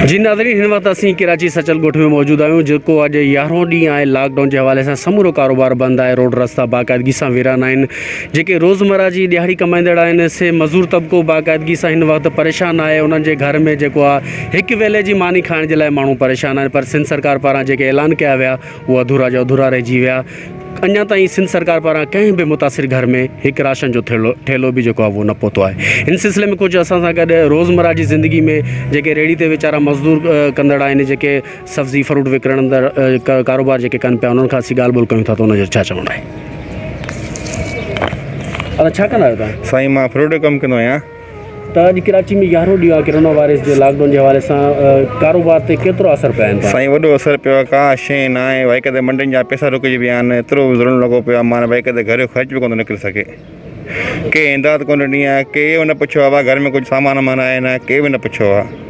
جي ناظرين هن وقت اسين ڪراچي سچل ڳوٺ ۾ موجود آهيون جيڪو اڄ يارهون ڏينهن آهي لاڪ ڊائون جي حوالي سان سمورو ڪاروبار بند آهي روڊ رستا باقاعدگي سان ويران آهن جيڪي روزمرا جي ڏيهاڙي ڪمائيندڙ آهن سي مزور طبقو باقاعدگي سان هن وقت پريشان آهي انهن جي گهر ۾ جيڪو آهي هڪ ويلي جي ماني کائڻ جي لاء ماڻهو پريشان آهن پر سنڌ سرڪار پاران جيڪي اعلان ڪيا ويا هو اڌورا جا اڌورا رهجي ويا. اڃا تائين سنڌ سرڪار پاران ڪنهن به متاثر گهر ۾ هڪ راشن جو ٿيلهو ٺيلهو به جيڪو آهي اهو نه پهتو آهي. ان سلسلي ۾ ڪجهه اسان سان گڏ روزمره جي زندگي ۾ جيڪي ريڙهي تي ويچارا مزدور ڪندڙ آهن جيڪي سبزي فروٽ وڪڻندڙ ڪاروبار جيڪي ڪن پيا انهن کان اسين ڳالهه ٻولهه ڪيون ٿا ته ان جو ڇا چوڻ آهي. ادا ڇا ڪندا آهيو توهان؟ سائين مان فروٽ جو ڪم ڪندو آهيان. ته اڄ ڪراچي ۾ يارهون ڏينهن آهي ڪرونا وائرس جي لاڪ ڊائون جي حوالي سان ڪاروبار تي ڪيترو اثر پيا آهن سائين وڏو اثر پيو آهي ڪا شي نه آهي بھائي ڪٿي منڊين جا پيسا رڪجي ويا آهن ايترو ظلم لڳو پيو آهي معنيٰ بھائي ڪٿي گھر جو خرچ به ڪونه نڪري سگھي ڪنهن امداد ڪونه ڏني آهي ڪنهن نه پڇيو آهي بابا گھر ۾ ڪجھ سامان وامان آهي نه ڪنهن به نه پڇيو آهي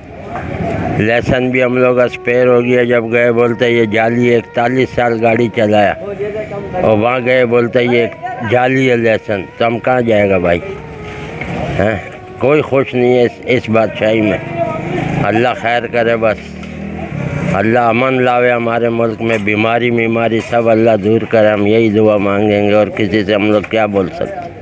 لئسن به هم لوگ اسپير هو گيا جب گئي بولته هي جعلي ايڪتاليس سال گاڙي چلايا اور وهان گئي بولته هي جعلي هي لئسن تو هم ڪهان جائي گا ڀائي هين ڪوئي خوش نهي هي اس بادشاهي مين الله خير ڪري بس الله امن لاوي هماري ملڪ مين بيماري ميماري سب الله دور ڪري هم يهي دعا مانگينگي اور ڪسي سي هم لوگ ڪيا بول سڪتي.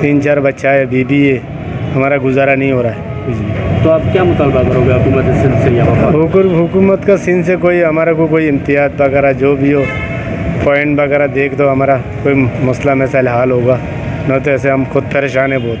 تين چار بچا هي بي بي اي همارا گزارا نهي هو رها هي ڪچھ بي. تو آپ کيا مطالبه کرو گي حکومت سندھ سي يا وفاق سي. حکومت کا سندھ سي ڪوئي همارا ڪو ڪوئي امتياز وغيره جو بي هو پوائنٽ وغيره ديک دو همارا ڪوئي مسئلا مسائل حال هوگا نه تو ايسي هم خود پريشان هي بهت.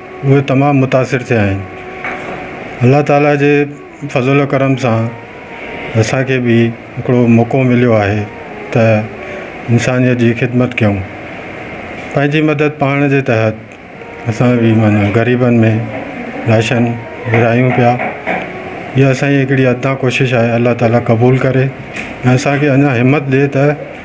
اهي تمام متاثر ٿيا آهن الله تعالي جي فضل ڪرم سان اسانکي به هڪڙو موقعو مليو آهي ته انسانيت جي خدمت ڪيون پنهنجي مدد پاڻ جي تحت اسان به معنيٰ غريبن ۾ راشن ورهايون پيا اها اسانجي هڪڙي اڌا ڪوشش آهي الله تعالي قبول ڪري اسانکي اڃا همت ڏي ته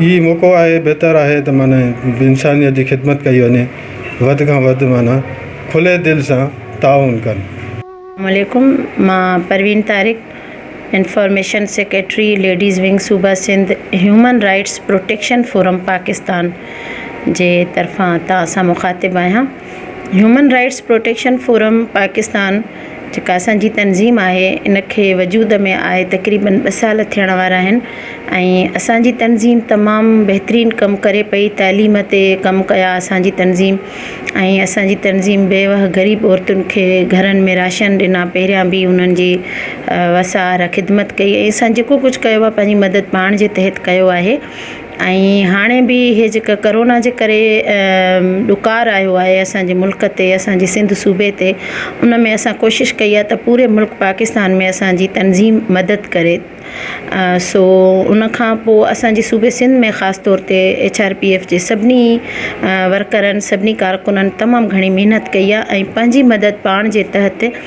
هي موقعو آهي بهتر آهي ته معنيٰ انسانيت جي خدمت ڪئي وڃي وڌ کان وڌ معنيٰ کلي دل سان تعاون ڪن. اسلام عليڪم مان Parveen Tariq information secretary ladies wing صوبه Sindh human rights protection forum Pakistan جي طرفان توهان سان مخاطب آهيان. Human rights protection forum Pakistan جيڪا اسان جي تنظيم آهي ان کي وجود ۾ آئي تقريبن ٻه سال ٿيڻ وارا آهن ۽ اسانجي تنظيم تمام بهترين ڪم ڪري پئي تعليم تي ڪم ڪيا اسانجي تنظيم ۽ اسانجي تنظيم بيوه غريب عورتن کي گهرن ۾ راشن ڏنا پهريان به انهن جي وسار خدمت ڪئي ۽ اسان جيڪو ڪجهه ڪيو آهي پنهنجي مدد پاڻ جي تحت ڪيو آهي ۽ هاڻي به هي جيڪا ڪورونا جي ڪري ڏڪار آيو آهي اسانجي ملڪ تي اسانجي سنڌ صوبي تي ان ۾ اسان ڪوشش ڪئي آهي ته پوري ملڪ پاڪستان ۾ اسانجي تنظيم مدد ڪري سو ان کان پوء اسانجي صوبي سنڌ ۾ خاص طور تي ايڇ آر پي ايف جي سڀني ورڪرن سڀني ڪارڪنن تمام گهڻي محنت ڪئي آهي ۽ پنهنجي مدد پاڻ جي تحت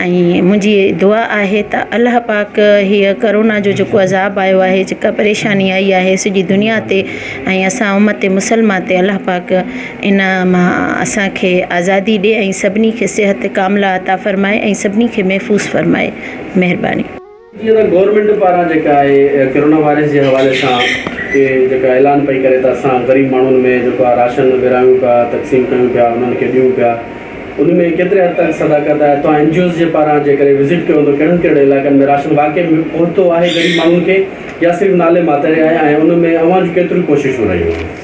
۽ منهنجي دعا آهي ته الله پاڪ هي ڪورونا جو جيڪو عذاب آيو آهي جيڪا پريشاني آئي آهي سڄي دنيا تي ۽ اسان امت مسلمه تي الله پاڪ ان مان اسانکي آزادي ڏي ۽ سڀني کي صحت ڪامله عطا فرمائي ۽ سڀني کي محفوظ فرمائي مهرباني جيئن ته گورنمينٽ پاران جيڪا آهي ڪرونا وائرس جي حوالي سان ڪي جيڪا اعلان پئي ڪري ته اسان غريب ماڻهن ۾ جيڪو آهي راشن ورهايون پيا تقسيم ڪيون پيا انهن کي ڏيون پيا ان ۾ ڪيتري حد تڪ صداقت آهي توهان اين جي اوز جي پاران جي ڪري وزٽ ڪيو هوندو ڪهڙن ڪهڙن علائقن ۾ راشن واقعي ۾ پهتو آهي غريب ماڻهن کي يا صرف نالي ماتر آهي ۽ ان ۾ اوهان جون ڪيتريون ڪوششون رهيون آهن.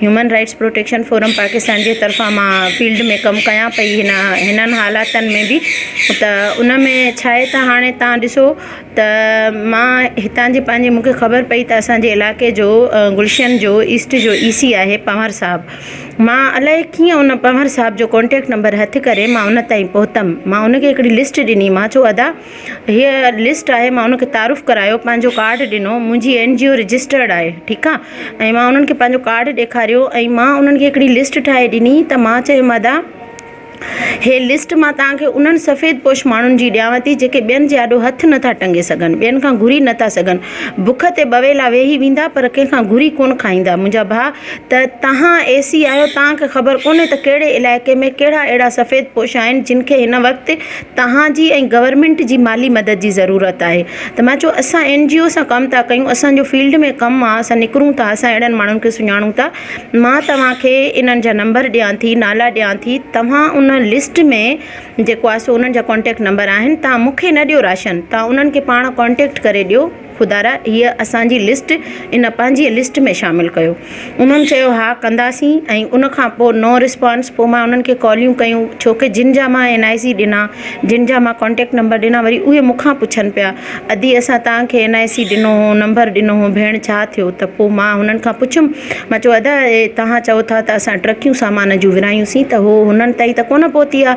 Human rights protection forum Pakistan جي طرفان مان فيلڊ ۾ ڪم ڪيان پئي هن هنن حالاتن ۾ بي ته ان ۾ ڇا آهي ته هاڻي تان ڏسو ته مان هتان جي پنهنجي مونکي خبر پئي ته اسانجي علائقي جو گلشن جو ايسٽ جو اي سي آهي پنهور صاحب مان الائي ڪيئن ان پنهور صاحب جو ڪونٽيڪٽ نمبر هٿ ڪري مان ان تائين پهتم مان ان کي هڪڙي لسٽ ڏني مان چو ادا هيء لسٽ آهي مان انهن کي تعارف ڪرايو پنهنجو ڪارڊ ڏنو منهنجي اين جي او رجسٽرڊ آهي ٺيڪ آهي ۽ مان انهن کي پنهنجو ڪارڊ ڏيکاريو ۽ مان انهن کي هڪڙي لسٽ ٺاهي ڏني ته مان چيو مدا هي لسٽ مان توهان کي انهن سفيد پوش ماڻهن جي ڏيانو ٿي جيڪي ٻين جي آڏو هٿ نٿا ٽنگي سگهن ٻين کان گهري نٿا سگهن بک تي بويلا ويهي ويندا پر ڪنهن کان گهري ڪونه کائيندا منهنجا ڀاء ته توهان اي سي آهيو توهان کي خبر ڪونهي ته ڪهڙي علائقي ۾ ڪهڙا اهڙا سفيد پوش آهن جن کي هن وقت توهان جي ۽ گورنمينٽ جي مالي مدد جي ضرورت آهي ته ما چيو اسان اين جي او سان ڪم ٿا ڪيون اسانجو فيلڊ ۾ ڪم آهي اسان نڪرون ٿا اسان اهڙن ماڻهن کي سڃاڻون ٿا ما توهان کي انهن جا نمبر ڏيان ٿي نالا ڏيان ٿي توهان ان لسٽ ۾ جيڪو آهي سو انهن جا ڪانٽيڪٽ نمبر آهن توهان مونکي نه ڏيو راشن توهان انهن کي پاڻ ڪانٽيڪٽ ڪري ڏيو خدارا هيء اسان جي لسٽ ان پنهنجي لسٽ ۾ شامل ڪيو. انهن چيو ها ڪنداسين ۽ ان کان پوء نو رسپانس پوء مان انهن کي ڪاليون ڪيون ڇوڪه جن جا مان اين آء سي ڏنا جن جا مان ڪانٽيڪٽ نمبر ڏنا وري اهي مون کان پڇن پيا ادي اسان توهان کي اين آء سي ڏنو هو نمبر ڏنو هو ڀيڻ ڇا ٿيو ته پوء مان هنن کان پڇيم مان چيو ادا توهان چئو ٿا ته اسان ٽرڪيون سامان جون ورهايون سين ته هو هنن تائين ته ڪونه پهتي آ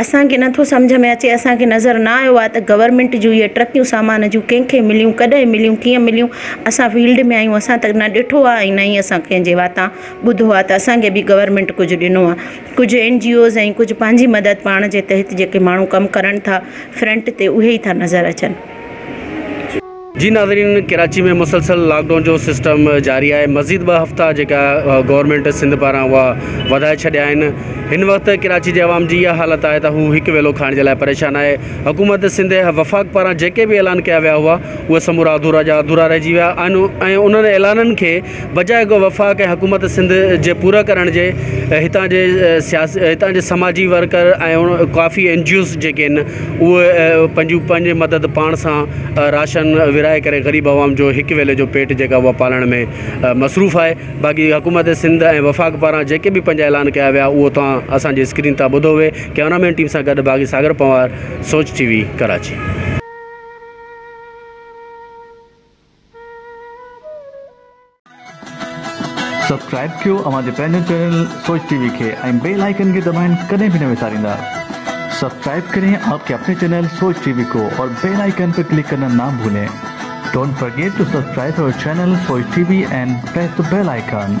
اسان کي نٿو سمجهه ۾ اچي اسان کي نظر نه آيو آهي ته گورنمينٽ جون اهي ٽرڪيون سامان جون ڪنهن کي مليون ڪڏهن مليون ڪيئن مليون اسان فيلڊ ۾ آهيون اسان ته نه ڏٺو آهي ۽ نه ئي اسان ڪنهن جي واتان ٻڌو آهي ته اسان کي به گورنمينٽ ڪجهه ڏنو آهي ڪجهه اين جي اوز ۽ ڪجهه پنهنجي مدد پاڻ جي تحت جيڪي ماڻهو ڪم ڪرن ٿا فرنٽ تي اهي ئي ٿا نظر اچن. جي ناظرين ڪراچي ۾ مسلسل لاڪ ڊائون جو سسٽم جاري آهي مزيد ٻه هفتا جيڪا گورنمينٽ سنڌ پاران اها وڌائي ڇڏيا آهن هن وقت ڪراچي جي عوام جي اها حالت آهي ته هو هڪ ويلو کائڻ جي لاء پريشان آهي حڪومت سنڌ وفاق پاران جيڪي به اعلان ڪيا ويا هئا اهي سمورا اڌورا جا اڌورا رهجي ويا آهن ۽ انهن اعلانن کي بجاء اڳ وفاق ۽ حڪومت سنڌ جي پورا ڪرڻ جي هتان جي سياسي هتان جي سماجي ورڪر ۽ ڪافي اين جي اوز جيڪي ان اهي پنهنجون پنهنجي مدد پاڻ سان راشن ورهائي ڪري غريب عوام جو هڪ ويلي جو پيٽ جيڪا اها پالڻ ۾ مصروف آهي باقي حڪومت سنڌ ۽ وفاق پاران جيڪي به پنهنجا اعلان ڪيا ويا اهو توهان اسان جي اسڪرين تان ٻڌو وي ڪيمرا مين ٽيم سان گڏ Baghi Sagar Panwar Soch T V Karachi. Subscribe ڪيو اوهان جي پنهنجو چينل سوچ ٽي وي کي ۽ بيل آئيڪن کي دٻائڻ ڪڏهن به نه وساريندا سبسڪرائب ڪرين آپ ڪي اپني چينل سوچ ٽي وي ڪو اور بيل آئيڪن پي ڪلڪ ڪرنا نا ڀولين ڊونٽ فرگيٽ ٽو سبسڪرائب اور channel Soch T V and press the bell icon.